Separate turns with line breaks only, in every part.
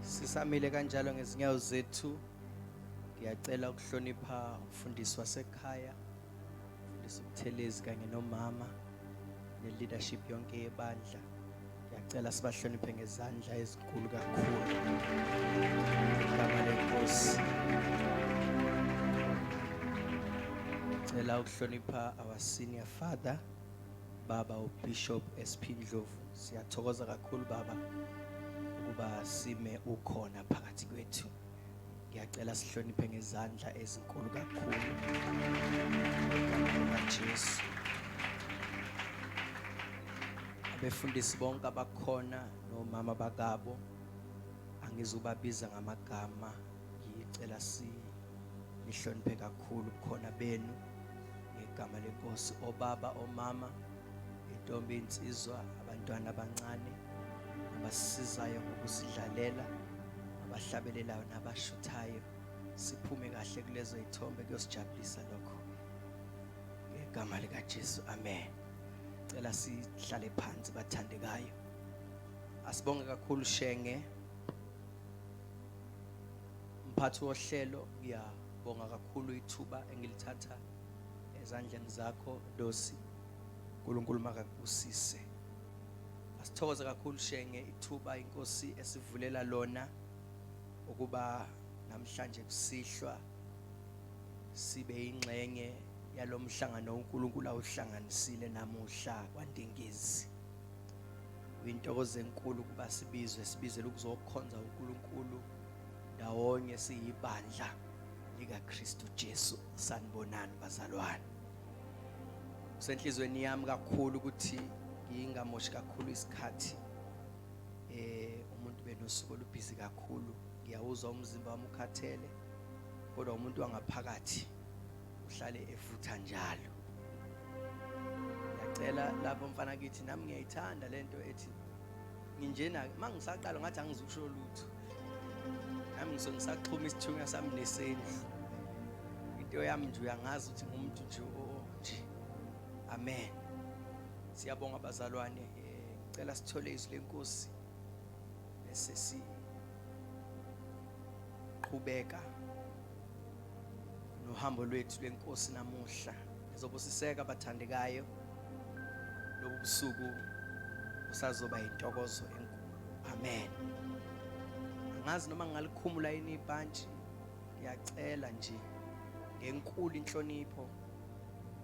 Sisamile kanjalo ngezinyawo zethu. Ngiyacela ukuhlonipha umfundisi wasekhaya, umfundisi uButhelezi kanye nomama ne-leadership yonke yebandla. Ngiyacela sibahloniphe ngezandla ezinkulu kakhulu. Igama lenkosi. Ngicela ukuhlonipha our senior father Baba uBishop SP Ndlovu siyathokoza kakhulu baba ukuba sime ukhona phakathi kwethu ngiyacela sihloniphe ngezandla ezinkulu kakhulu Jesu abefundisi bonke abakhona nomama bakabo angizubabiza ngamagama ngicela si nihloniphe kakhulu khona benu ngegama lenkosi obaba omama intombi insizwa abantwana abancane abasizayo ngokusidlalela abahlabelelayo nabashuthayo siphume kahle kulezo ithombe kuyosijabulisa lokho ngegama likaJesu amen cela sihlale phansi bathandekayo asibonge kakhulu shenge mphathi wohlelo ngiya Bonga kakhulu ithuba engilithatha ezandleni zakho Dosi. uNkulunkulu makakubusise. Asithokoze kakhulu Shenge ithuba inkosi esivulela lona ukuba namhlanje kusihlwa sibe ingxenye yalomhlangano uNkulunkulu awuhlanganisile namuhla kwaNdengezi. Uyintokozo enkulu kuba sibizwe sibizele ukuzokhonza uNkulunkulu. ndawonye siyibandla likaKristu Jesu sanibonani bazalwane kusenhlizweni yami kakhulu ukuthi ngingamoshi kakhulu isikhathi eh umuntu benosuku olubhizi kakhulu ngiyawuzwa umzimba wami ukhathele kodwa umuntu wangaphakathi uhlale evutha njalo ngiyacela lapho mfana kithi nami ngiyayithanda lento ethi nginjena mangisaqala ngathi angizukusho lutho nami ngisuke ngisaxhuma isithunywa sami nesendlu into yami nje uyangazi ukuthi ngumuntu nje nje amen siyabonga abazalwane eh, ngicela sithole izwi lenkosi bese siqhubeka nohambo lwethu lwenkosi namuhla ngizobusiseka abathandekayo lobu busuku usazoba yintokozo enkulu Amen. Angazi noma ngingalikhumula yini ibhantshi. Ngiyacela nje ngenkulu inhlonipho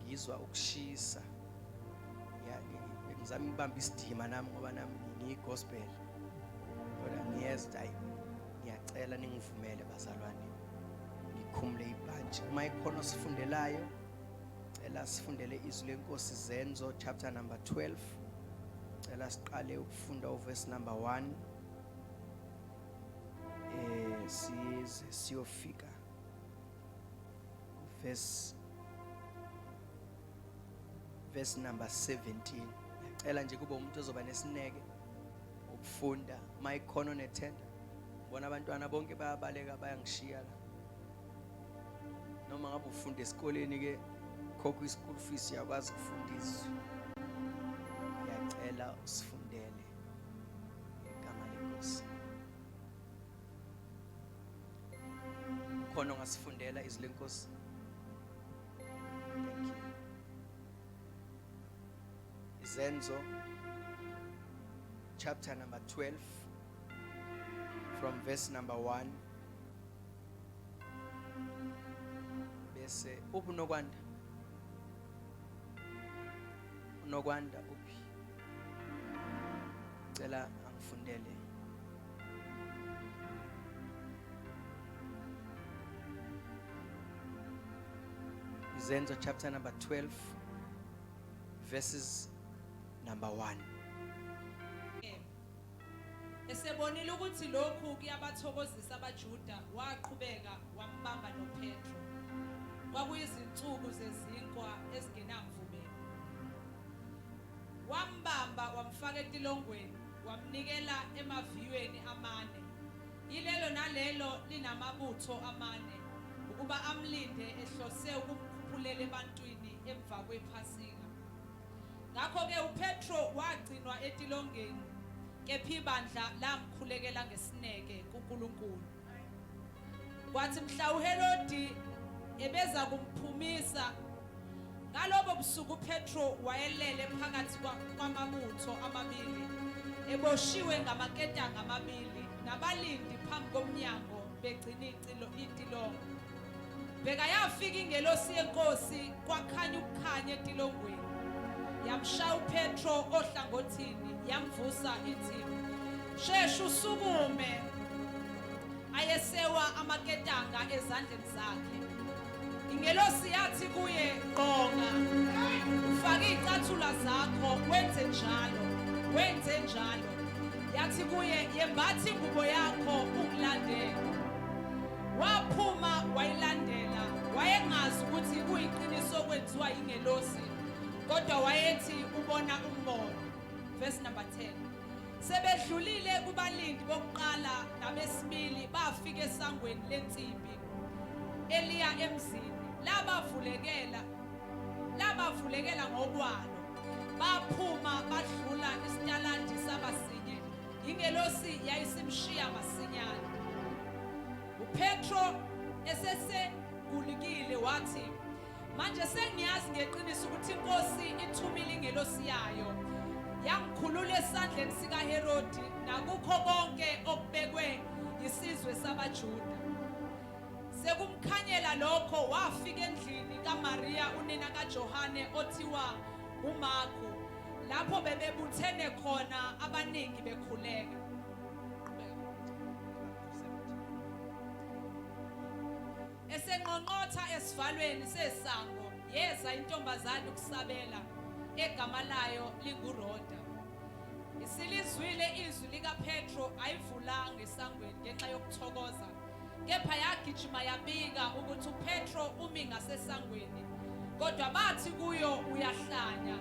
ngizwa ukushisa. Ya ngizama ukubamba isidima nami ngoba nami ngiyigospel. Kodwa ngiyezwa hayi ngiyacela ningivumele bazalwane ngikhumule ibhantshi uma ikhona osifundelayo cela sifundele izwi lenkosi zenzo chapter number 12 cela siqale funda uverse number 1 eh size siyofika verse verse number 17 ngicela nje kube umuntu ozoba nesineke ukufunda mayikhono nethenda bona abantwana bonke bayabaleka bayangishiya la noma ngabe ufunda esikoleni ke khokha i-school fees uyakwazi ukufunda izwi uyacela usifundele igama lenkosi khona ongasifundela izwi lenkosi thank you izenzo chapter number 12 from verse number 1 bese uphi unokwanda unokwanda uphi cela angifundele izenzo chapter number 12 verses number 1
Esebonile ukuthi lokhu kuyabathokozisa abaJuda, waqhubeka wambamba noPetro. Kwakuyizinsuku zezinkwa ezingenamvubelo. Wambamba wamfaka etilongweni, wamnikela emaviyweni amane. Yilelo nalelo linamabutho amane ukuba amlinde ehlose ukumkhuphulela ebantwini emva kwePhasika. Ngakho-ke uPetro wagcinwa etilongeni, kepha ibandla lamkhulekela ngesineke kuNkulunkulu. Kwathi mhla uHerodi ebeza kumphumisa ngalobo busuku uPetro wayelele phakathi kwamabutho amabili eboshiwe ngamaketanga amabili nabalindi phambi komnyango begcina itilongo. Bheka yafika ingelosi yenkosi kwakhanya ukukhanya etilongweni. Yamshaya uPetro ohlangothini yamvusa ithi shesha usukume. Ayesewa amaketanga ezandleni zakhe. Ingelosi yathi kuye qonga faka icathula zakho wenze njalo wenze njalo yathi kuye yembathi ingubo yakho ungilandele Waphuma wayilandela, wayengazi ukuthi kuyiqiniso okwenziwa yingelosi, kodwa wayethi ubona umbono. Verse number 10. Sebedlulile kubalindi bokuqala nabesibili bafika esangweni lensimbi eliya emzini labavulekela labavulekela ngokwalo baphuma badlula isitaladi sabasinye Ingelosi yayisimshiya masinyane. UPetro esesegulikile wathi, Manje sengiyazi ngeqiniso ukuthi iNkosi ithumile ingelosi yayo yangikhulula esandleni sikaHerodi nakukho konke okubekwe yisizwe sabaJuda. Sekumkhanyela lokho wafika endlini kaMaria unina kaJohane othiwa uMarko lapho bebebuthene khona abaningi bekhuleka esenqonqotha esivalweni sesango yeza intombazane ukusabela egama layo linguRhoda isilizwile izwi likaPetro ayivulanga esangweni ngenxa yokuthokoza kepha yagijima yabika ukuthi uPetro umi ngasesangweni kodwa bathi kuyo uyahlanya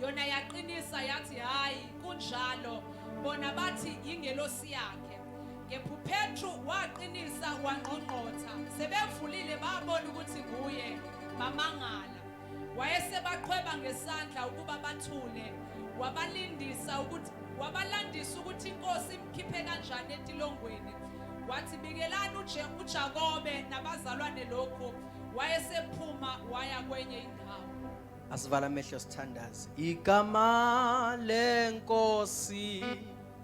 yona yaqinisa yathi hayi kunjalo bona bathi yingelosi yakhe kepha uPetro waqinisa wangqongqotha sebevulile babona ukuthi kuye bamangala wayesebaqhweba ngesandla ukuba bathule wabalindisa ukuthi wabalandisa ukuthi inkosi imkhiphe kanjani etilongweni wathi bikelani uJakobe nabazalwane lokhu wayesephuma waya kwenye indawo asivala
amehlo sithandaze igama lenkosi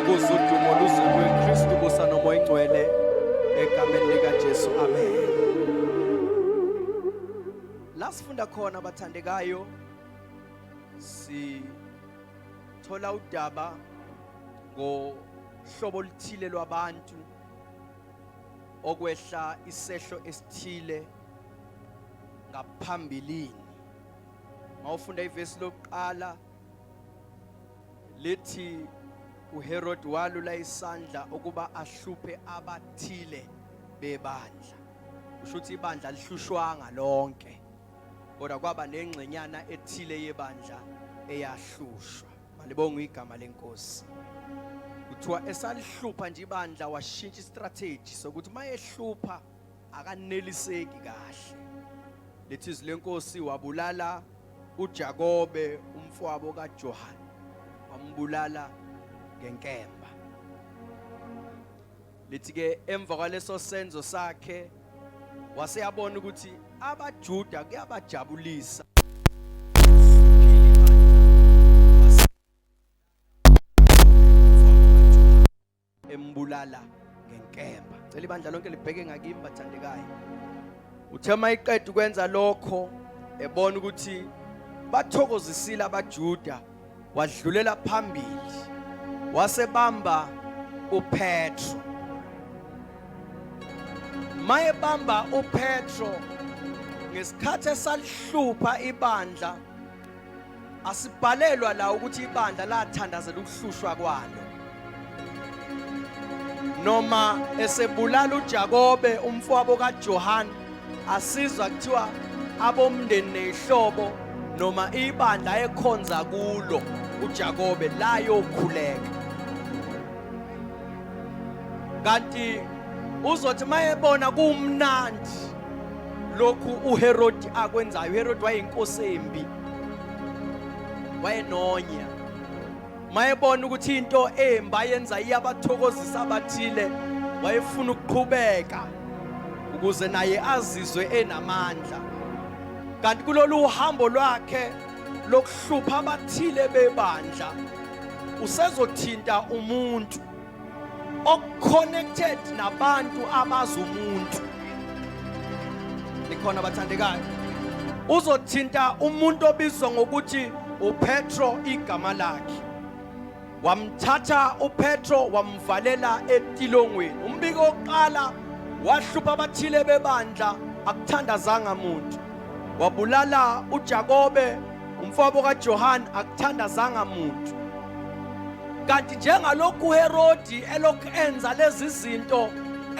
ukuze udumo luze kuKristu kusa nomoya ingcwele egameni likaJesu amen la sifunda khona abathandekayo sithola udaba ngohlobo oluthile lwabantu okwehla isehlo esithile ngaphambilini mawufunda ivesi lokuqala lithi uHerod walula isandla ukuba ahluphe abathile bebandla kusho ukuthi ibandla lihlushwanga lonke kodwa kwaba nengxenyana ethile yebandla eyahlushwa malibonga igama lenkosi kuthiwa esalihlupha nje ibandla washintsha istrategy sokuthi mayehlupha akaneliseki kahle lithi izwi lenkosi wabulala uJakobe umfowabo kaJohane wambulala ngenkemba lithi ke emva kwaleso senzo sakhe waseyabona ukuthi abaJuda kuyabajabulisa embulala ngenkemba cela ibandla lonke libheke ngakimi bathandekayo uthe uma iqeda ukwenza lokho ebona ukuthi bathokozisile abajuda wadlulela phambili wasebamba upetro mayebamba upetro ngesikhathi esalihlupha ibandla Asibhalelwa la ukuthi ibandla lathandazela ukuhlushwa kwalo. Noma esebulala uJakobe umfowabo kaJohane asizwa kuthiwa abomndeni nezihlobo noma ibandla ekhonza kulo uJakobe la yokhuleka. Kanti uzothi mayebona kumnandi lokhu uHerodi akwenzayo uHerodi wayeyinkosi embi wayenonya mayebona ukuthi into embi ayenza iyabathokozisa abathile wayefuna ukuqhubeka ukuze naye azizwe enamandla kanti kulolu uhambo lwakhe lokuhlupha abathile bebandla usezothinta umuntu okuconnected nabantu abazi umuntu nikhona bathandekayo uzothinta umuntu obizwa ngokuthi uPetro igama lakhe wamthatha uPetro wamvalela etilongweni umbiko oqala wahlupha abathile bebandla akuthandazanga muntu wabulala uJakobe Umfowabo kaJohane akuthandazanga muntu. Kanti njengalokhu uHerodi elokhu enza lezi zinto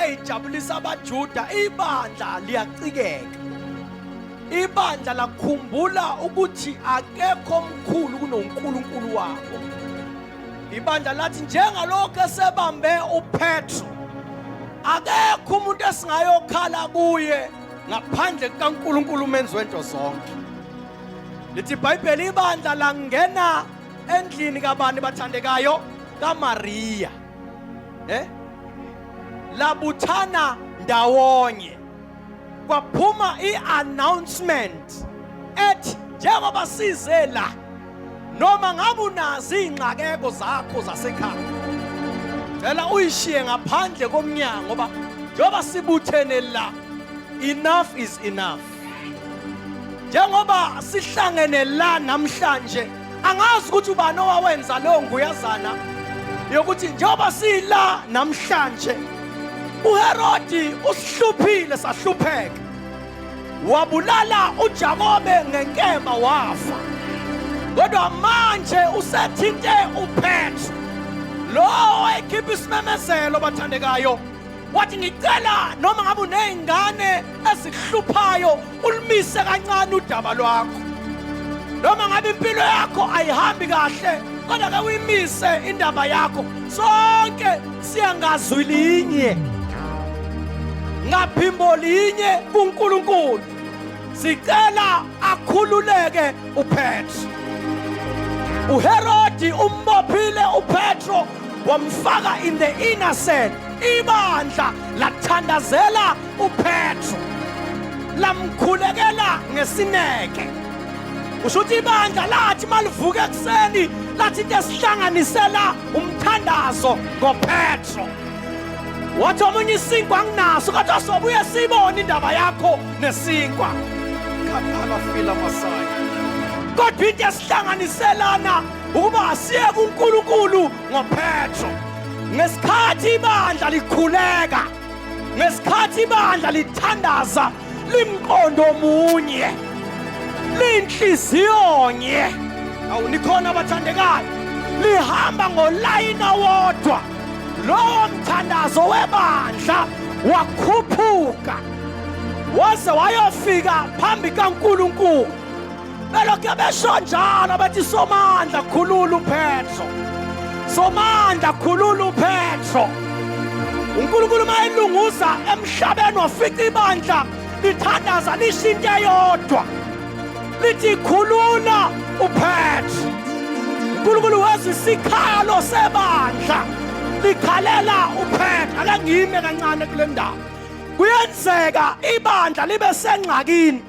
eyijabulisa abaJuda, ibandla liyacikeka. Ibandla lakhumbula ukuthi akekho omkhulu kunoNkulunkulu wabo. Ibandla lathi njengalokhu esebambe uPetro akekho umuntu esingayokhala kuye ngaphandle kukaNkulunkulu umenzi wento zonke lithi ibhayibheli ibandla langena endlini kabani bathandekayo kamariya eh labuthana ndawonye kwaphuma i-announcement ethi njengoba size la noma ngabe unazo iy'ngxakeko zakho zasekhaya cela uyishiye ngaphandle komnyango ngoba njengoba sibuthene la enough is enough njengoba sihlangene la namhlanje angazi ukuthi ubani owawenza leyo nguyazana yokuthi njengoba sila namhlanje uherodi usihluphile sahlupheka wabulala uJakobe ngenkemba wafa kodwa manje usethinte uPetro lo oyikhipha isimemezelo bathandekayo wathi ngicela noma ngabe unezingane ezihluphayo ulimise kancane udaba lwakho noma ngabe impilo yakho ayihambi kahle kodwa ke uyimise indaba yakho sonke siyangazwi linye ngaphimbo linye kuNkulunkulu sicela akhululeke uPetro uHerodi umbophile uPetro wamfaka in the inner cell ibandla lathandazela uPetro lamkhulekela ngesineke usho ukuthi ibandla lathi malivuka ekuseni lathi into esihlanganisela umthandazo ngopetro wathi omunye isinkwa anginaso kodwa sobuye siyibone indaba yakho nesinkwa khathala fila masaya kodwa into esihlanganiselana ukuba asiye kunkulunkulu ngopetro ngesikhathi ibandla likhuleka ngesikhathi ibandla lithandaza limqondo omunye linhliziyonye awu nikhona abathandekayo lihamba ngolayini owodwa lowo mthandazo webandla wakhuphuka waze wayofika phambi kaNkulunkulu belokhe besho njalo bethi somandla khulula uphetro somandla khulula uphetro unkulunkulu uma elunguza emhlabeni wafica ibandla lithandaza lisho into eyodwa lithi khulula uphetro unkulunkulu wezwa isikhalo sebandla likhalela uphetro ake ngime kancane kule ndawo kuyenzeka ibandla libe sengxakini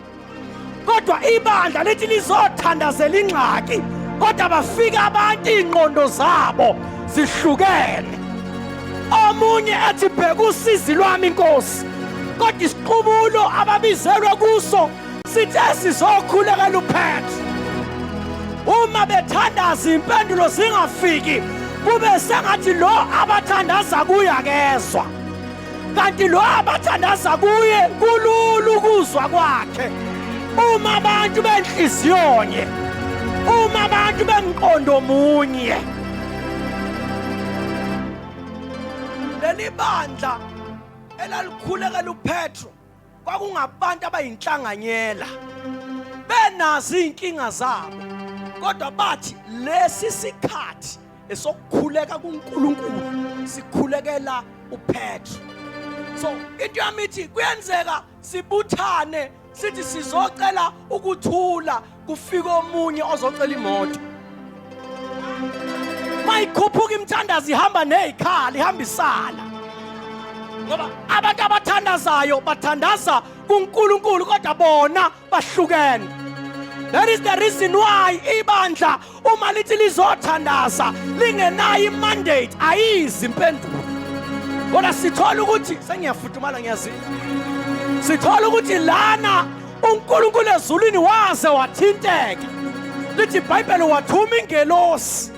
kodwa ibandla lithi lizothandazela ingxaki kodwa bafika abantu iy'ngqondo zabo zihlukene omunye ethi bheka usizi lwami inkosi kodwa isiqubulo ababizelwe kuso sithe sizokhuleka luphethe uma bethandaza impendulo zingafiki kube sengathi lo abathandaza kuye akezwa kanti lo abathandaza kuye kulula ukuzwa kwakhe uma abantu benhliziyonye uma abantu bemqondo munye leli bandla elalikhulekela upetro kwakungabantu abayinhlanganyela benazi izinkinga zabo kodwa bathi lesi sikhathi esokukhuleka kuNkulunkulu sikhulekela uPetru so into yami ithi kuyenzeka sibuthane sithi sizocela ukuthula kufika omunye ozocela imoto mayikhuphuka imthandazo ihamba nezikhala ihamba isala ngoba abantu abathandazayo bathandaza kuNkulunkulu kodwa bona bahlukene that is the reason why ibandla uma lithi lizothandaza lingenayo imandate ayizi impendulo kodwa sithola ukuthi sengiyafudumala ngiyazi sithola ukuthi lana uNkulunkulu ezulwini waze wathinteka lithi iBhayibheli wathuma ingelosi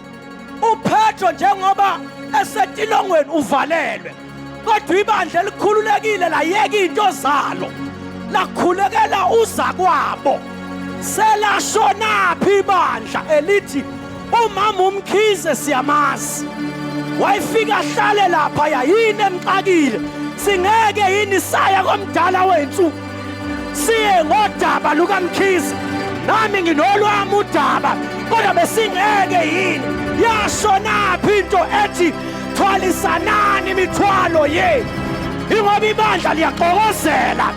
uPetro njengoba esetilongweni uvalelwe kodwa ibandla elikhululekile layeka into zalo lakhulekela uza kwabo selashonaphi ibandla elithi umama umkhize siyamazi wayefika ahlale lapha yayini emxakile singeke yini saya komdala wethu siye ngodaba lukamkhize nami nginolwami udaba kodwa besingeke yini yashonaphi into ethi thwalisanani imithwalo yenu ingoba ibandla liyaxokozela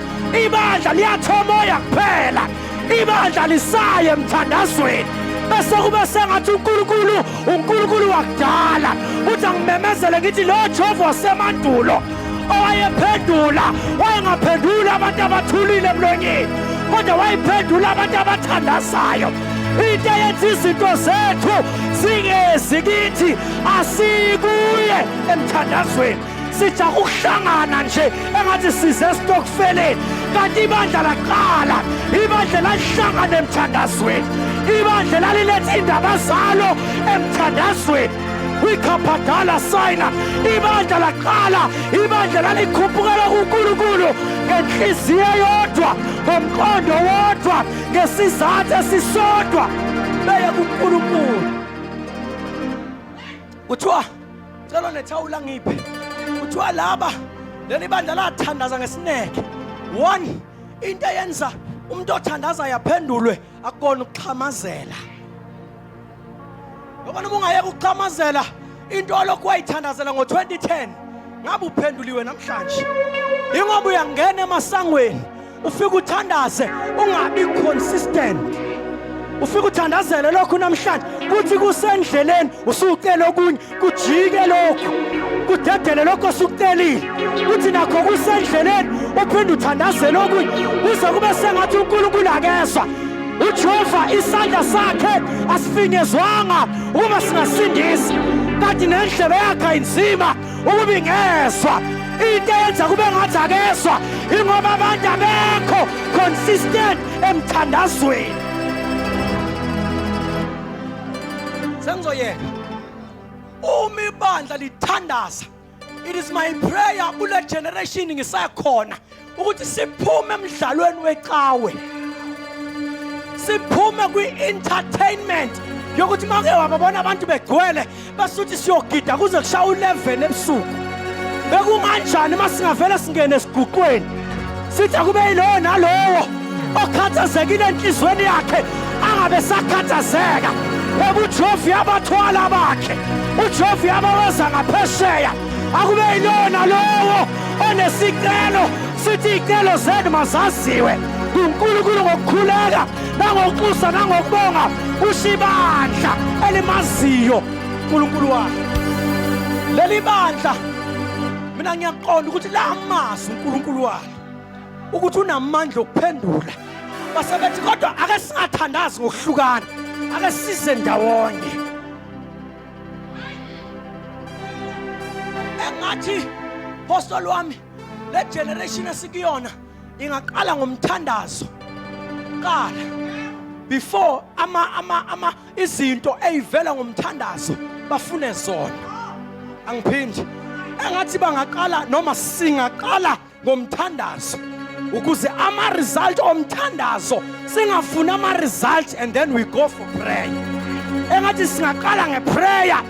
ibandla liyathomoya kuphela ibandla lisaye emthandazweni bese kube sengathi uNkulunkulu uNkulunkulu wakudala uthi angimemezele ngithi lo Jehova wasemandulo owayephendula wayengaphenduli abantu abathulile emlonyeni kodwa wayephendula abantu abathandazayo into eyenza izinto zethu singezi kithi asikuye emthandazweni sija ukuhlangana nje engathi size esitokfeleni kanti ibandla laqala ibandla lalihlangana emthandazweni ibandla laliletha indaba zalo emthandazweni kwikhabhadala sayina ibandla laqala ibandla lalikhuphukela kunkulunkulu ngenhliziyo eyodwa ngomqondo wodwa ngesizathu esisodwa beye kunkulunkulu kuthiwa cela nethawula ngiphe kuthiwa laba leli bandla lathandaza ngesineke one into eyenza umuntu othandaza yaphendulwe akukona ukuxhamazela Ngoba noma ungayeka ukuxhamazela into olokhu wayithandazela ngo-2010 ngabe uphenduliwe namhlanje. Ingoba uyangena emasangweni ufike uthandaze ungabi consistent. Ufike uthandazele lokhu namhlanje kuthi kusendleleni usucela okunye kujike lokhu kudedele lokhu osukucelile kuthi nakho kusendleleni uphinde uthandazele okunye kuze kube sengathi unkulunkulu akezwa ujehova isandla sakhe asifinyezwanga ukuba singasindisi kanti nendlebe yakhe ayinzima ukuba ingezwa into
eyenza kube ngathi akezwa ingoba abantu abekho consistent emthandazweni
sengizoyeka uma ibandla lithandaza it is my prayer kule generation ngisakhona ukuthi siphume emdlalweni wecawe siphume kwi-entertainment yokuthi make wababona abantu begcwele basuthi siyogida kuze kushaya u-11 ebusuku bekunganjani uma singavele singene esiguqweni sithi akube yilowo nalowo okhathazekile enhliziyweni yakhe angabe sakhathazeka ngoba uJehova uyabathwala abakhe uJehova uyabaweza ngaphesheya akube yilowo nalowo onesicelo sithi iy'celo zenu mazaziwe kunkulunkulu ngokukhuleka nangokuxusa nangokubonga usho ibandla elimaziyo unkulunkulu wakhe leli bandla mina ngiyaqonda ukuthi la mazwi uNkulunkulu wayo ukuthi unamandla okuphendula basebethi kodwa ake singathandazi ngokuhlukana ake size ndawonye engathi postoli wami le generation esikuyona ingaqala ngomthandazo qala before ama ama ama izinto eyivela ngomthandazo bafune zona angiphindi engathi bangaqala noma singaqala ngomthandazo ukuze ama result omthandazo singafuni ama result and then we go for prayer engathi singaqala ngeprayer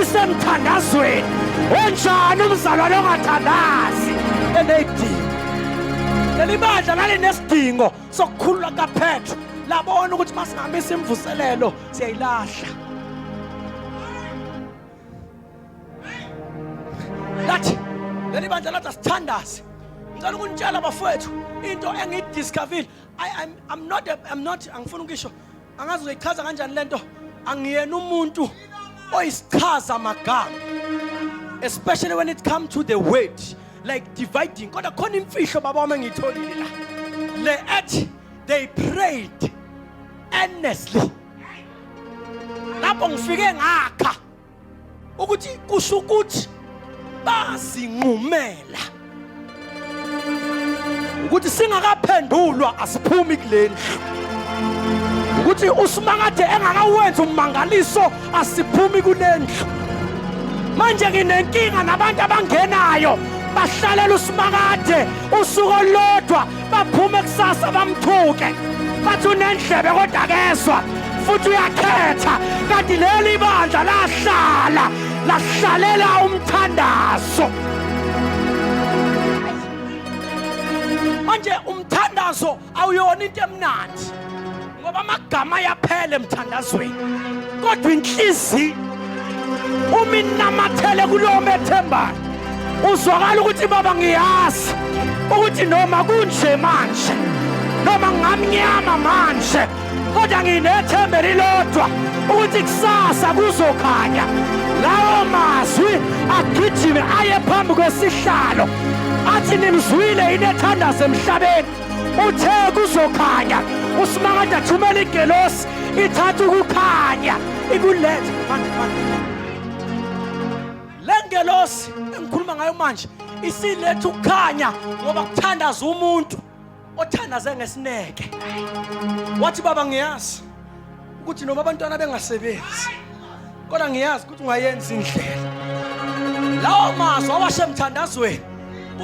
isemthandazweni onjani umzalwane ongathandazi eneyidingo leli bandla lalinesidingo sokukhulula kaphetho labona ukuthi uma singamisa imvuselelo siyayilahla lathi leli bandla lathi asithandazi ngicela ukunitshela bafowethu into engiyidiscovile i'm not i'm not angifuni ukisho angazi uzoyichaza kanjani le nto angiyena umuntu oyisichaza magama especially when it come to the word like dividing kodwa khona imfihlo baba wami engiyitholile la le ethi they prayed earnestly lapho ngifike ngakha ukuthi kusho ukuthi bazinqumela ukuthi singakaphendulwa asiphumi kulendlu ukuthi usimakade engakawenzi ummangaliso asiphumi kulendlu manje nginenkinga nabantu abangenayo bahlalela usimakade usuku olulodwa baphume kusasa bamthuke bathi unendlebe kodwa kezwa futhi uyakhetha kanti leli bandla lahlala lahlalela umthandazo manje umthandazo awuyona into emnandi ngoba amagama ayaphela emthandazweni kodwa inhliziyo uma inamathele kulowo methembayo uzwakala ukuthi baba ngiyazi ukuthi noma kunje manje noma ngamnyama manje kodwa nginethembe lilodwa ukuthi kusasa kuzokhanya lawo mazwi agijime aye phambi kwesihlalo athi nimzwile inethandazo emhlabeni Uthe kuzokhanya uSimakade athumele igelosi ithatha ukukhanya ikulethe manje manje. Le ngelosi engikhuluma ngayo manje isiletha ukukhanya ngoba kuthandaza umuntu othandaze ngesineke. Wathi baba ngiyazi ukuthi noma abantwana bengasebenzi kodwa ngiyazi ukuthi ungayenza indlela lawo mazwi awashe emthandazweni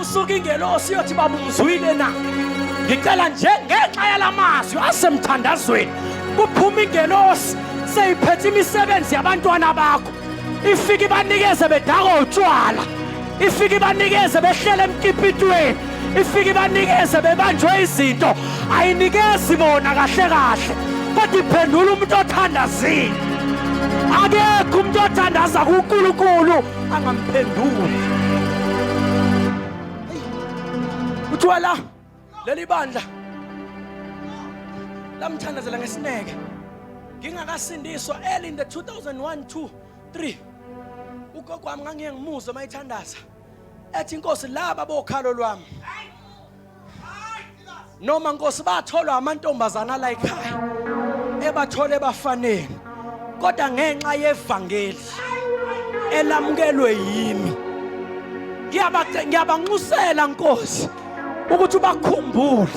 usuke ingelosi yothi baba umzwile na ngicela nje ngenxa yalamazwi asemthandazweni kuphuma ingelosi seyiphethe imisebenzi yabantwana bakho ifike ibanikeze bedakwa utshwala ifike ibanikeze behlele emkipitweni ifike ibanikeze bebanjwe izinto ayinikezi bona kahle kahle kodwa iphendula umuntu othandazile akekho umuntu othandaza kunkulunkulu angamphenduli utshwala leli bandla lamthandazela ngesineke ngingakasindiswa early in the 2001 2 3 ugogo wami ngangiye ngimuzwe uma ethandaza ethi inkosi laba bokhalo lwami noma nkosi batholwa amantombazana la ekhaya ebathole bafaneni kodwa ngenxa yevangeli elamukelwe yimi ngiyabanxusela nkosi ukuthi ubakhumbule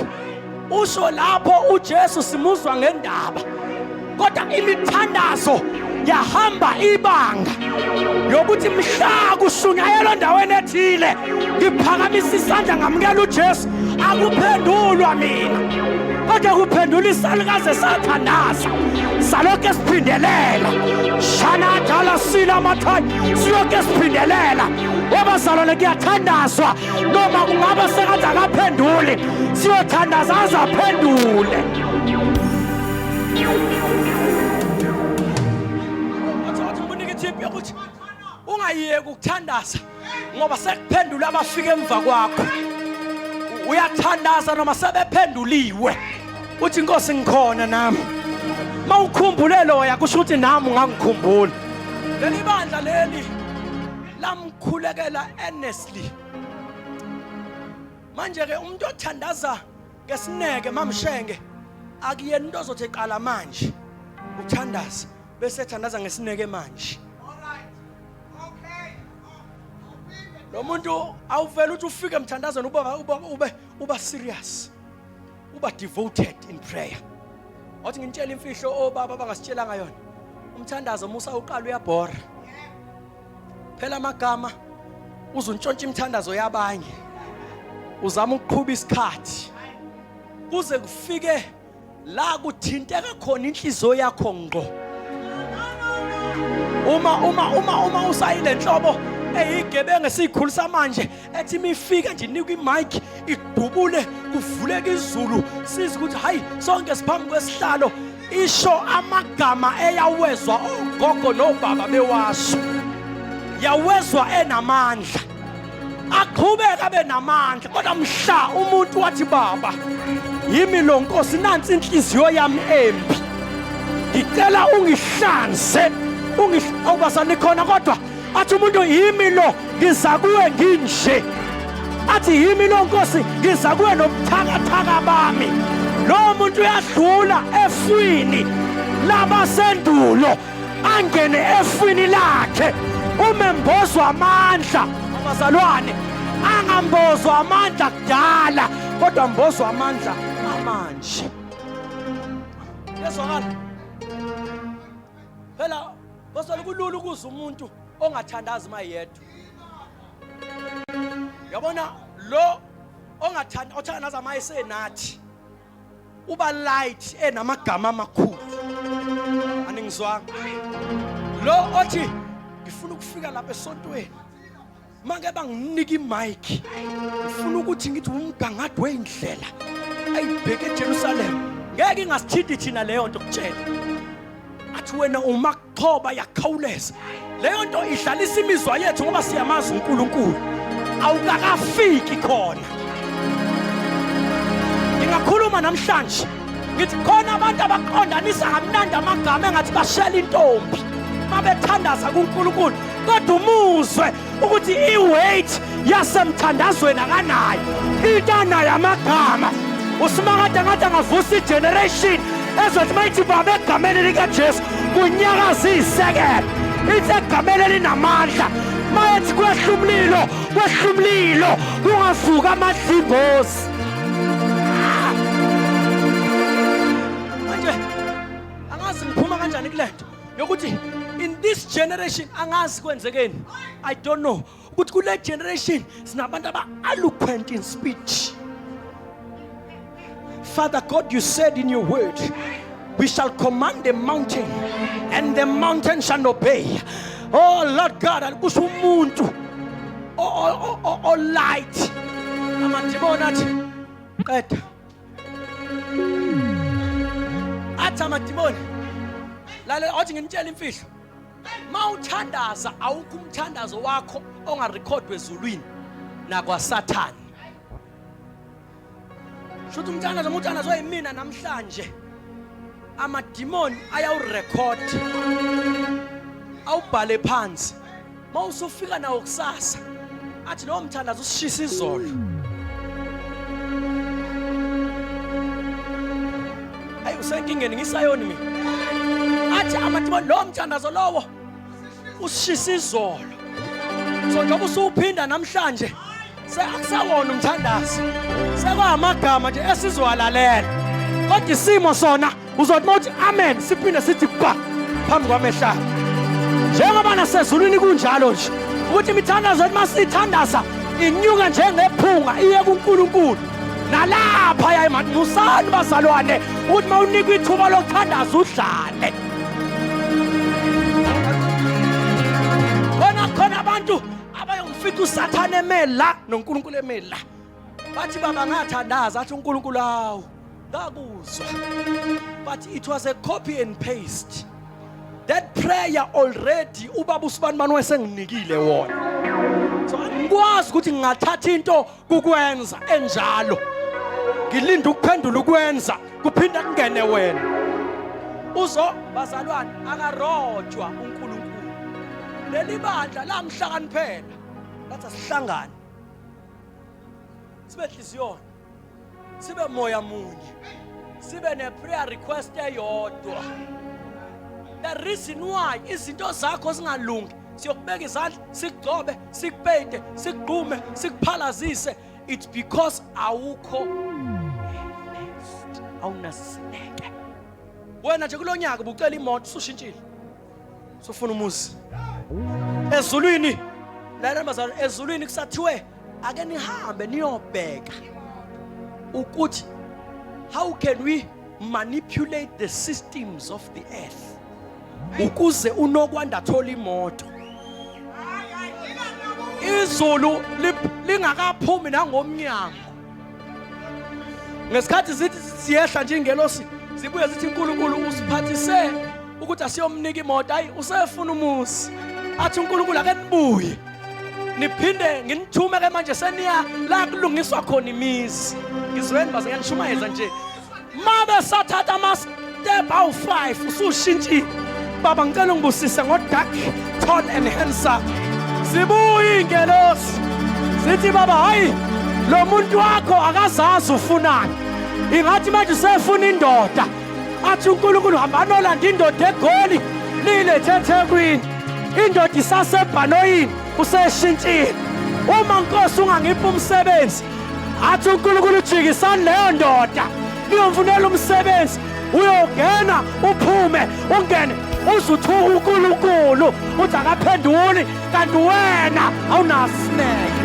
usho lapho uJesu simuzwa ngendaba kodwa imithandazo yahamba ibanga yokuthi mhla kushunyayelwa endaweni ethile ngiphakamisa isandla ngamukela uJesu akuphendulwa mina kodwa kuphendula isalukazi esathandaza saloke siphindelela shanadala sila amathwayi siloke siphindelela wabazalwane kuyathandazwa noma kungaba sengathi akaphenduli siyothandaza aze aphendule ungayiyeki ukuthandaza ngoba sekuphendula abafika emva kwakho uyathandaza noma sebephenduliwe uthi inkosi ngikhona nami mawukhumbule loya kusho ukuthi nami ungangikhumbula leli bandla leli lamkhulekela earnestly manje ke umuntu othandaza ngesineke mamshenge akuyena into ozothi eqala manje uthandaza bese ethandaza ngesineke manje lo muntu awuvele uthi ufike emthandazweni uba uba ube uba serious uba devoted in prayer wathi ngintshela imfihlo obaba abangasitshelanga yona umthandazo musa uqala uyabhora phela amagama uzuntshontsha imthandazo yabanye uzama ukuqhuba isikhathi kuze kufike la kuthinteka khona inhliziyo yakho ngqo uma uma uma uma usayile nhlobo eyigebengu esiyikhulisa manje ethi imifika nje inikwa imic idubule kuvuleka izulu sizi ukuthi hayi sonke siphambi kwesihlalo isho amagama eyawezwa ogogo nobaba bewasho yawezwa enamandla aqhubeke abe namandla kodwa mhla umuntu wathi baba yimi lo nkosi nansi inhliziyo yami embi ngicela ungihlanze ungihawubasani khona kodwa athi umuntu yimi lo ngiza kuwe nginje athi yimi lo nkosi ngiza kuwe nobuthakathaka bami lowo muntu uyadlula efwini labasendulo angene efwini lakhe umembozwa amandla abazalwane angambozwa amandla kudala kodwa mbozwa amandla amanje yezwakala phela bosole kulula ukuza umuntu ongathandazi uma yedwa yabona lo ongathandazi othanda nazi amayesenathi uba light enamagama amakhulu aningizwanga lo othi ngifuna ukufika lapha esontweni make banginika imike ngifuna ukuthi ngithi umgangathi weyindlela ayibheke ejerusalema ngeke ingasithinti thina leyo nto kutshela athi wena umak thoba yakhawuleza leyo nto idlalisa imizwa yethu ngoba siyamazi uNkulunkulu awukakafiki khona ngingakhuluma namhlanje ngithi khona abantu abaqondanisa kamnandi amagama engathi bashela intombi mabethandaza kuNkulunkulu kodwa umuzwe ukuthi i-weight yasemthandazweni akanayo into anayo amagama usimakade ngathi angavusa igeneration ezothi mayithi baba egameni likajesu kunyakaza iyisekelo ithi egameni elinamandla mayethi kwehla umlilo kwehla umlilo kungavuka amadlimbozi manje angazi ngiphuma kanjani kule nto yokuthi in this generation angazi kwenzekeni i don't know ukuthi kule generation sinabantu aba-eloquent in speech father god you said in your word we shall command the mountain and the mountain shall obey oh lord god alikusho umuntu olight amadimoni athi qeda athi amadimoni lalela wathi nginitshela imfihlo ma uthandaza awukho umthandazo wakho ongarekhodwa ezulwini nakwasathane shuthi umthandazo umuthandazo oyimina namhlanje amadimoni ayawurekhodi awubhale phansi uma usufika nawo kusasa athi lowo mthandazo usishisa izolo ayi usenkingeni ngisayoni mina athi amathibo lowo mthandazo lowo usishisa izolo so njengoba usuwuphinda namhlanje Seakusawona umthandazo. Sekwamagama nje esizowalalela. Kodwa isimo sona uzothi mawuthi amen siphinde sithi ba phambi kwamehla. Njengoba nasezulwini kunjalo nje ukuthi imithandazo yethu masithandaza inyuka njengephunga iye kuNkulunkulu. Nalapha yayi manje musani bazalwane ukuthi mawunikwa ithuba lokuthandaza udlale. abayomfica usathane eme la nonkulunkulu eme la bathi baba ngathandaza athi unkulunkulu awu ngakuzwa but it was a copy and paste that prayer already ubaba usibanibani wayesenginikile wona so angikwazi ukuthi ngingathatha into kukwenza enjalo ngilinde ukuphendula ukwenza kuphinde kungene wena uzo bazalwane akarojwa uNkulunkulu leli bandla lamhlakaniphela lathi asihlangane sibe hliziyona sibe moya munye sibe ne-prayer request eyodwa the reason why izinto zakho zingalungi siyokubeka izandla sikugcobe sikupeyide sikugqume sikuphalazise it's because awukho awunasineke wena nje kulo nyaka ubucela imoto usushintshile sofuna umuzi ezulwini lana mazalo ezulwini kusathiwe ake nihambe niyobheka ukuthi how can we manipulate the systems of the earth ukuze unokwanda thola imoto izulu lingakaphumi nangomnyango ngesikhathi zithi siyehla nje ingelosi zibuye zithi uNkulunkulu usiphathise ukuthi asiyomnika imoto hayi usefuna umuzi athi uNkulunkulu ake nibuye niphinde nginithume ke manje seniya la kulungiswa khona imizi ngizweni baze ngiyanishumayeza nje mabe sathatha ama-step awu-five usushintshile baba ngicela ungibusise ngodark tall and handsome zibuye iy'ngelosi zithi baba hhayi lo muntu wakho akazazi ufunani ingathi manje usefuna indoda athi unkulunkulu hamba nolanda indoda egoli liyilethe ethekwini indoda isasebhanoyini useshintshile uma nkosi ungangiphi umsebenzi athi uNkulunkulu ujikisani leyo ndoda niyomfunela umsebenzi uyogena uphume ungene uzuthuka uNkulunkulu uthi akaphenduli kanti wena awunasineke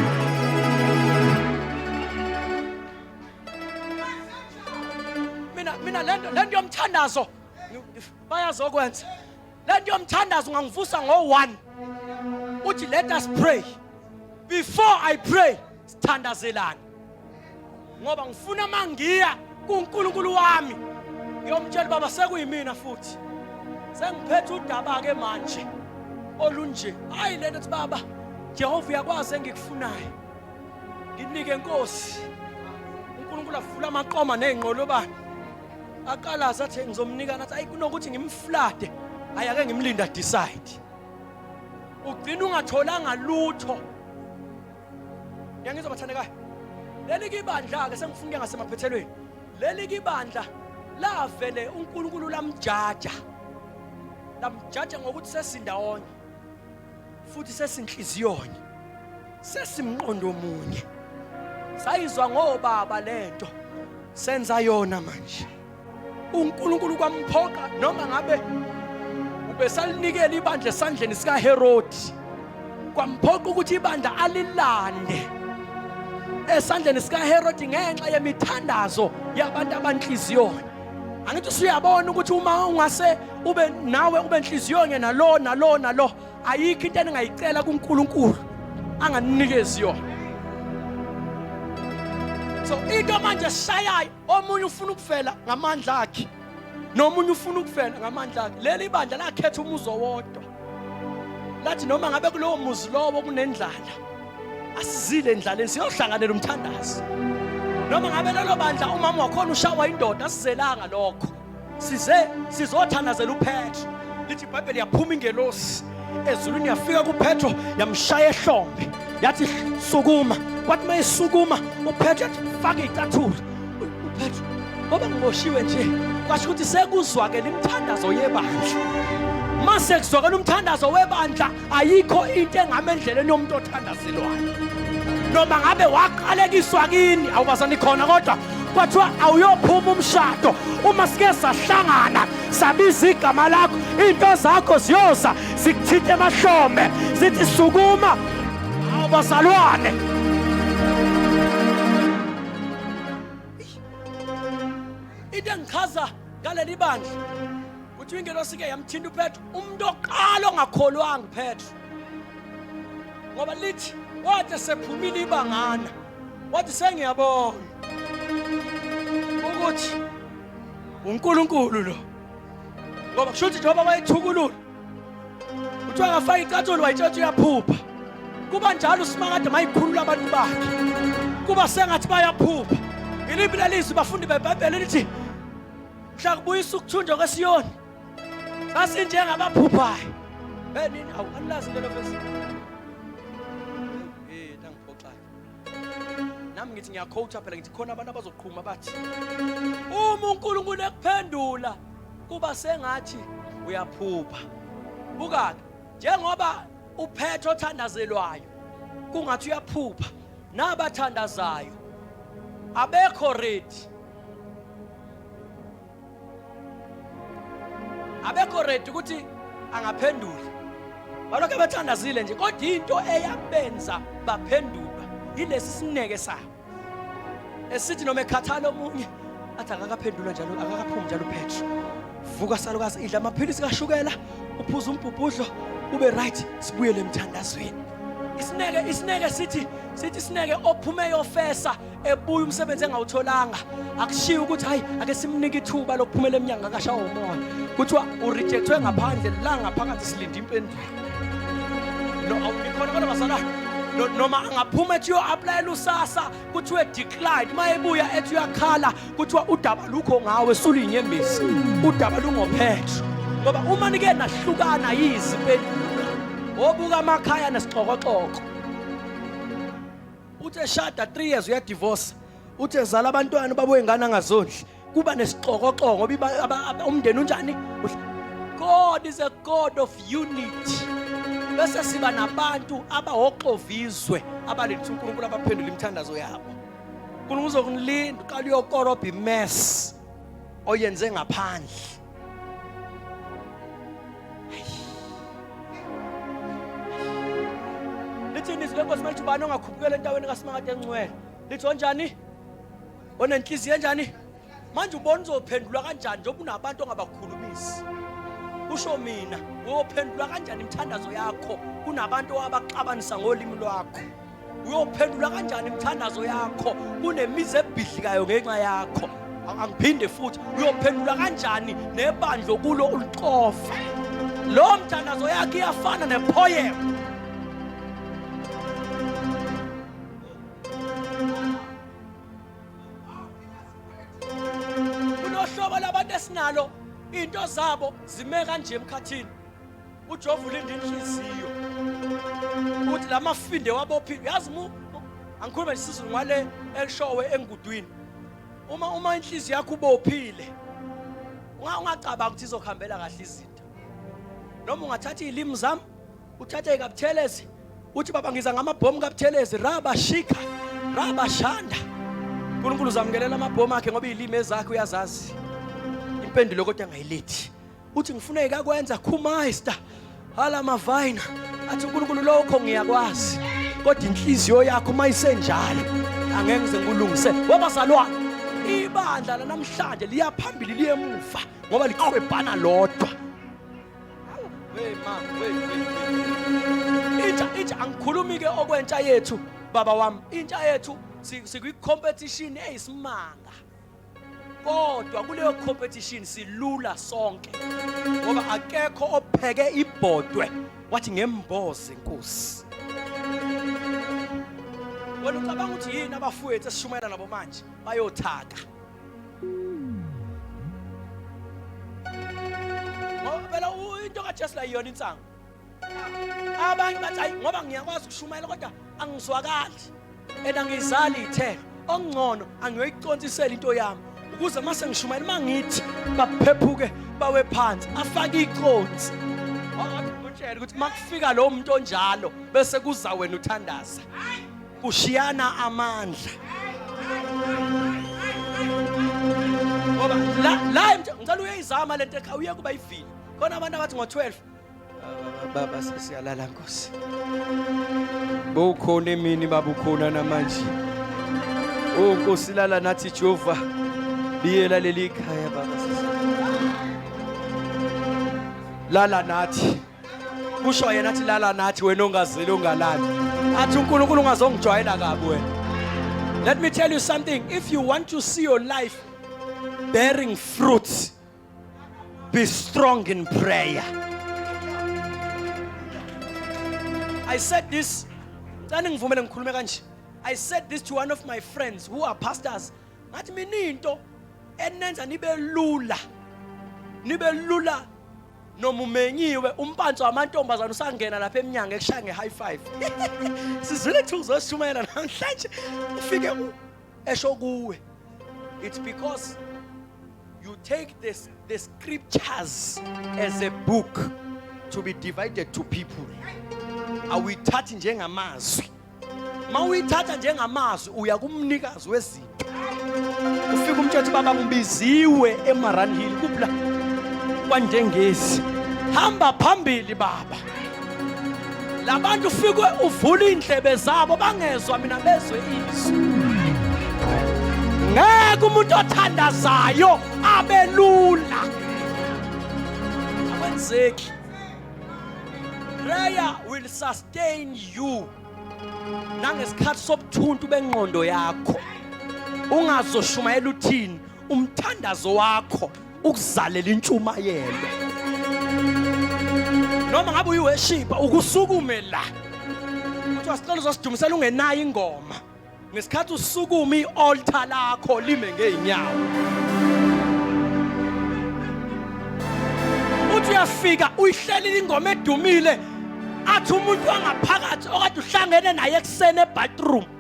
mina mina lento lento yomthandazo bayazokwenza lento yomthandazo ungangivusa ngo-one uthi let us pray before i pray sithandazelane ngoba ngifuna uma ngiya kunkulunkulu wami ngiyomtshela ubaba sekuyimina futhi sengiphethe udaba-ke manje olunje hhayi le nto ukuthi baba jehova uyakwazi engikufunayo nginike nkosi unkulunkulu avula amaqoma ney'nqolobane aqala asathi ngizomnika nathi ayi kunokuthi ngimflade ayi ake ngimlinda decide ugcina ungatholanga lutho ngiyangizwa bathandekayo leli kibandla ke sengifuna ukuya ngasemaphethelweni leli kibandla lavele uNkulunkulu lamjaja lamjaja ngokuthi sesindawonye futhi sesinhliziyonye sesimqondo munye sayizwa ngobaba lento senza yona manje uNkulunkulu kwamphoqa noma ngabe ubesalinikela ibandla esandleni sikaHerodi kwamphoqa ukuthi ibandla alilande esandleni sikaHerodi ngenxa yemithandazo yabantu abanhliziyona angithi usuyabona ukuthi uma ungase ube nawe ube nhliziyonye nalo nalo nalo ayikho into eningayicela kuNkulunkulu anganikezi yona so into manje shayayo omunye ufuna ukuvela ngamandla akhe nomunye ufuna ukuvela ngamandla akhe leli bandla lakhetha umuzo wodwa lathi noma ngabe kulowo muzi lowo kunendlala asizile endlaleni siyohlanganela umthandazi noma ngabe lelo bandla umama wakhona ushawa indoda asizelanga lokho size
sizothandazela uphetro lithi ibhayibheli yaphuma ingelosi ezulwini yafika kuphetro yamshaya ehlombe yathi sukuma kwathi uma isukuma uphetro yathi faka iy'cathulo Uphethu ngoba ngiboshiwe nje kwasho ukuthi sekuzwakela imithandazo yebandla uma sekuzwakela umthandazo webandla ayikho into engama endleleni yomuntu othandazelwayo noma ngabe waqalekiswa kini awubazani khona kodwa kwathiwa awuyophuma umshado uma sike sahlangana sabiza igama lakho into zakho ziyoza zikuthinte emahlombe zithi sukuma awubazalwane into engichaza ngaleli bandla kuthiwa ingelosi ke yamthinta upetro umuntu oqala ongakholwanga upetro ngoba lithi wathi sephumile ibangana wathi sengiyabona ukuthi uNkulunkulu lo ngoba kusho ukuthi njengoba wayethukulula kuthiwa akafaka icathulo wayitshetha uyaphupha kuba njalo usimakade mayikhulula abantu bakhe kuba sengathi bayaphupha iliphi lelizwi bafundi bebhayibheli lithi mhla kubuyisa ukuthunjwa kwesiyoni sasinjengabaphuphayo benini awukanilazi lelo vesi nami ngithi ngiyakhowutha phela ngithi khona abantu abazoqhuma bathi uma uNkulunkulu ekuphendula kuba sengathi uyaphupha bukake njengoba uphethe othandazelwayo kungathi uyaphupha nabathandazayo abekho ready abekho ready ukuthi angaphendula balokhu abathandazile nje kodwa into eyabenza baphendulwa yilesi sineke sabo esithi noma ekhathala omunye athi akakaphendulwa njalo akakaphumi njalo Petro vuka salukazi idla amaphilisi kashukela uphuza umbhubhudlo ube right sibuyele emthandazweni isineke isineke sithi sithi isineke ophume yofesa ebuya umsebenzi engawutholanga akushiye ukuthi hayi ake simnike ithuba lokuphumela emnyango akashawa umoya kuthiwa urejectwe ngaphandle la ngaphakathi silinde impendulo no awulikhona kodwa bazalwane noma angaphuma ethi uyo-aplayela usasa kuthiwa edeclined uma ebuya ethi uyakhala kuthiwa udaba lukho ngawe suliyinyembezi udaba lungophetho ngoba uma nike nahlukana yizi impendulo wobuka amakhaya nesixokoxoko uthi eshada 3 years uyadivorce uthi ezala abantwana ubabuye ngane angazondli kuba nesixokoxoko umndeni unjani God is a God of unity bese siba nabantu abahoxovizwe abaletha uNkulunkulu abaphendula imithandazo yabo uNkulunkulu uzokunilinda uqala uyokorobha imess oyenze ngaphandle lithi nizwi lenkosi malithi ubani ongakhupukela endaweni kasimangade engcwele lithi onjani onenhliziyo enjani manje ubona uzophendulwa kanjani njengoba unabantu ongabakhulumisi usho mina uyophendulwa kanjani imithandazo yakho kunabantu abaxabanisa ngolimi lwakho uyophendula kanjani imithandazo yakho kunemizi ebhidlikayo ngenxa yakho angiphinde futhi uyophendula kanjani nebandla okulo ulixofa lo mthandazo yakhe iyafana nepoem kunohlobo labantu esinalo into zabo zime kanje emkhathini uJehova ulinda inhliziyo ukuthi la mafinde wabophile yazi mu angikhulume nesizulu ngale elishowe engudwini uma uma inhliziyo yakho ubophile ungacabanga ukuthi izokuhambela kahle izinto noma ungathatha iy'limi zami uthathe ikabuthelezi uthi baba ngiza ngamabhomu kabuthelezi raba shika raba shanda unkulunkulu uzamukelela amabhomu akhe ngoba iy'limi ezakhe uyazazi impendulo kodwa angayilethi uthi ngifuna ekakwenza khumayista hala mavayina athi unkulunkulu lokho ngiyakwazi kodwa inhliziyo yakho uma isenjalo angeke ngize ngikulungise wabazalwane ibandla lanamhlanje liyaphambili liyemuva ngoba liqwebhana lodwa intsha intsha angikhulumi-ke okwentsha yethu baba wami intsha yethu sikwi-competition eyisimanga kodwa kuleyo competition silula sonke ngoba akekho opheke ibhodwe wathi ngemboze inkosi wena ucabanga ukuthi yini abafowethu esishumayela nabo manje bayothaka ngoba phela into kajesu la yiyona insangu abanye bathi hayi ngoba ngiyakwazi ukushumayela kodwa angizwakali and angizali ithelo okungcono angiyoyicontsisela into yami ukuze uma sengishumayela uma ngithi baphephuke bawe phansi afake iconsi utshele ukuthi makufika lo muntu onjalo bese kuza wena uthandaza kushiyana amandla ngoba la la ngicela uyeyizama lento ekhaya uye kuba ivini khona abantu abathi ngo-12 Baba sesiyalala Nkosi. Bowukhona emini baba ukhona namanje. Oh Nkosi lala nathi Jehova. Biyela leli khaya baba sisi. Lala nathi. Kusho yena athi lala nathi wena ongazeli ongalali. Athi uNkulunkulu ungazongijwayela kabi wena. Let me tell you something. If you want to see your life bearing fruits, Be strong in prayer. I said this. Cani ngivumele ngikhulume kanje. I said this to one of my friends who are pastors. Ngathi mina into enenza nibe lula. Nibe lula noma umenyiwe umpantsho wamantombazana usangena lapha eminyango ekushaya nge-high five sizwile kuthiwa uzoshumayela namhlanje ufike esho kuwe it's because you take this the scriptures as a book to be divided to people awuyithathi njengamazwi ma uyithatha njengamazwi uya kumnikazi wezinto ufika umtshetho baba ngibiziwe emaranhill kuphi la kwandengezi hamba phambili baba labantu ufike uvula indlebe zabo bangezwa mina bezwe izwi ngeke umuntu othandazayo abelula akwenzeki prayer will sustain you nangesikhathi sobuthuntu bengqondo yakho ungazoshumayela uthini umthandazo wakho ukuzalela intshumayelo noma ngabe uyiweshipa ukusukume la kuthiwa sicela uzosidumisela ungenayo ingoma ngesikhathi usukume i-altar lakho lime ngey'nyawo uthi uyafika uyihlelile ingoma edumile athi umuntu wangaphakathi okade uhlangene naye ekuseni ebathroom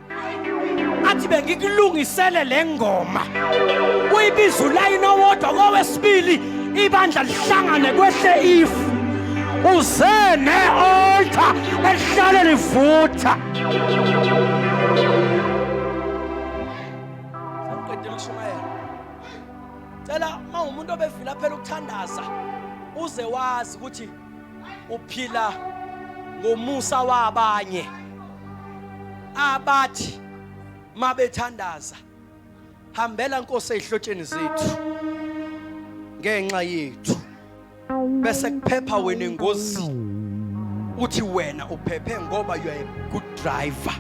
athi bengikulungisele le ngoma uyibiza ulayini owodwa kowesibili ibandla lihlangane kwehle ifu uze ne-oltha elihlale livutha cela uma umuntu obevila phela ukuthandaza uze wazi ukuthi uphila ngomusa wabanye abathi mabethandaza hambela Nkosi ezihlotsheni zethu ngenxa yethu bese kuphepha wena engozini uthi wena uphephe ngoba you are a good driver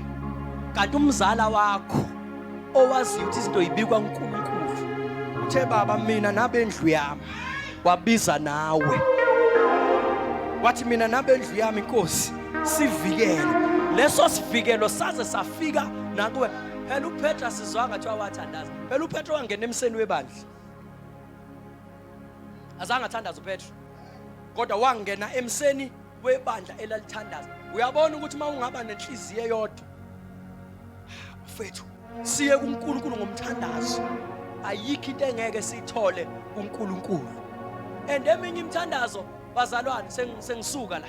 kanti umzala wakho owaziyo ukuthi izinto yibikwa uNkulunkulu uthe baba mina nabendlu yami wabiza nawe wathi mina nabendlu yami inkosi sivikele leso sivikelo saze safika nakuwe phela uPetra sizwa ngathi wawathandaza phela uPetra wangena emseni webandla azange athandaza uPetra kodwa wangena emseni webandla elalithandaza uyabona ukuthi uma ungaba nenhliziyo eyodwa mfethu siye kuNkulunkulu ngomthandazo ayikho into engeke siyithole kuNkulunkulu and eminye imithandazo bazalwane sengisuka la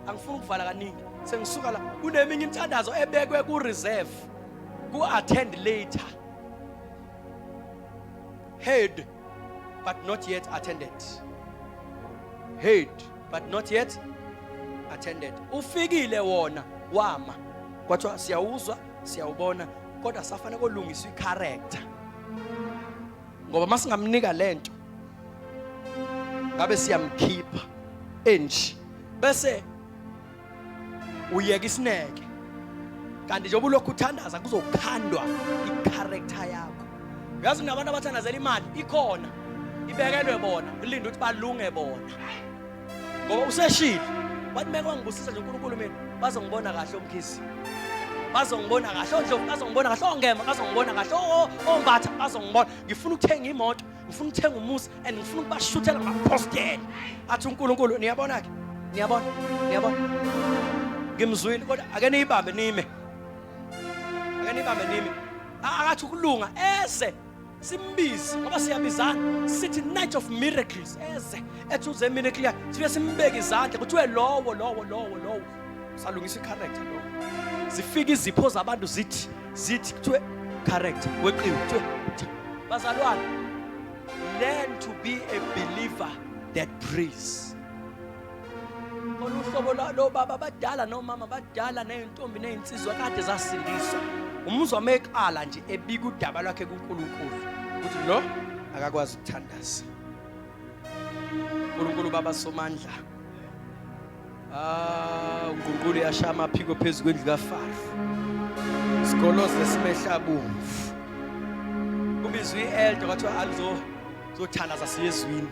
angifuni ukuvala kaningi sengisuka la kuneminye imithandazo ebekwe ku reserve ku attend later heard but not yet attended heard but not yet attended ufikile wona wama kwathiwa siyawuzwa siyawubona kodwa safane kolungiswa icharacter ngoba masingamnika lento ngabe siyamkhipha enje bese uyeka isineke kanti njengoba ulokhu uthandaza kuzokhandwa i-character yakho uyazi nabantu abathandazela imali ikhona ibekelwe bona ulinda ukuthi balunge bona ngoba useshile wathi meke wangibusisa nje unkulunkulu mina bazongibona kahle omkhisi bazongibona kahle ondlovu bazongibona kahle ongema bazongibona kahle ombatha bazongibona ngifuna ukuthenga imoto ngifuna ukuthenga umuzi and ngifuna ukubashuthela ngabapostela athi uNkulunkulu niyabona ke niyabona niyabona ngimzwile kodwa ake niyibambe nime ake niyibambe nime akathi ukulunga eze simbize ngoba siyabizana sithi night of miracles eze ethi uze miracle yakhe sibe simbeke izandla kuthiwe lowo lowo lowo lowo salungisa i-character lowo zifika izipho zabantu zithi zithi kuthiwe correct weqiwe kuthiwe bazalwane learn to be a believer that prays khona uhlobo lobaba abadala nomama abadala nezintombi nezinsizwa kade zasindiswa umuzwa meqala nje ebika udaba lwakhe kuNkulunkulu ukuthi lo akakwazi ukuthandaza uNkulunkulu baba somandla ah uNkulunkulu yasha amaphiko phezulu kwendlu kaFaro sigoloze simehla bomvu ubizwe ielder wathi alizo zothalaza siyezwini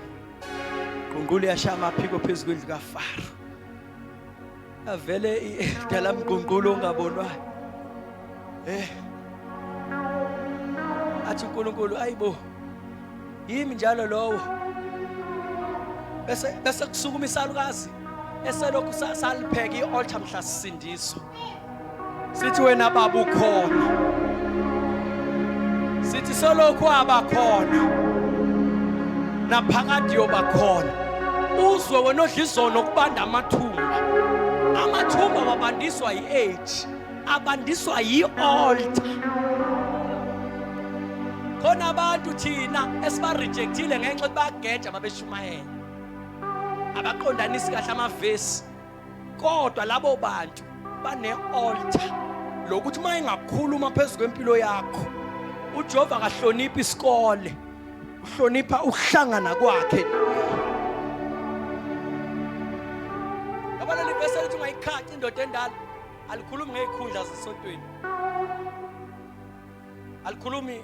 uNkulunkulu yasha amaphiko phezulu kwendlu kaFaro avele idala mgqungqulo ongabonwayo eh athi uNkulunkulu ayibo yimi njalo lowo bese bese kusukuma isalukazi eselokhu salipheka i-altar mhla sisindiswa sithi wena baba ukhona sithi solokhu abakhona naphakade yobakhona uzwe wena odla izono kubanda amathumba amathumba wabandiswa yi-age abandiswa yi-altar khona abantu thina esibarejectile ngenxa yokuthi bayageja babeshumayela abaqondanisi kahle amavesi kodwa labo bantu bane-altar lokuthi uma engakhuluma phezu kwempilo yakho ujehova akahloniphi isikole uhlonipha ukuhlangana kwakhe yabona livesi elithi ungayikhathi indoda endala alikhulumi ngey'khundla zesontweni alikhulumi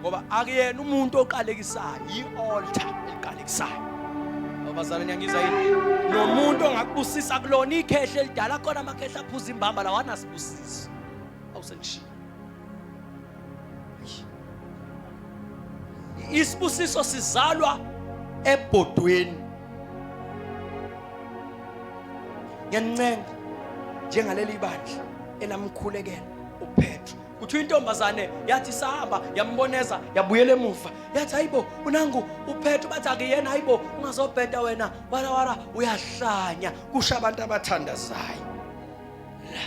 ngoba akuyena umuntu oqalekisayo yi-altar eliqalekisayo abazalwane yangizwa yini nomuntu ongakubusisa kulona ikhehle elidala khona amakhehla aphuza imbamba lawo anasibusiso awusengishiya isibusiso sizalwa ebhodweni ngiyanincenga njengaleli bandla elamkhulekela upetro kuthiwa intombazane yathi sahamba yamboneza yabuyela emuva yathi hayibo unangu uphethe bathi akuyena hayibo ungazobheda wena wala wala uyahlanya kusho abantu abathandazayo la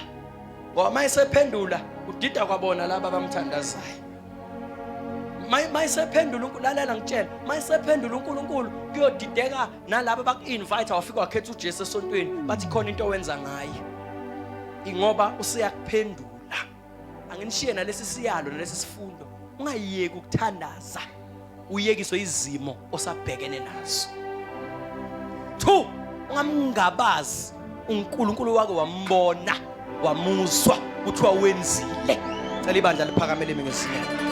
ngoba uma esephendula udida kwabona laba abamthandazayo mayisephendula lalela ngitshela mayisephendula uNkulunkulu kuyodideka nalabo baku-invite wafika wakhetha uJesu esontweni bathi khona into owenza ngaye ingoba useyakuphendula la anginishiye nalesi siyalo nalesi sifundo ungayeki ukuthandaza uyekiswe izimo osabhekene nazo two ungamngabazi uNkulunkulu wake wambona wamuzwa kuthiwa wenzile cela ibandla liphakamele mina ngesinye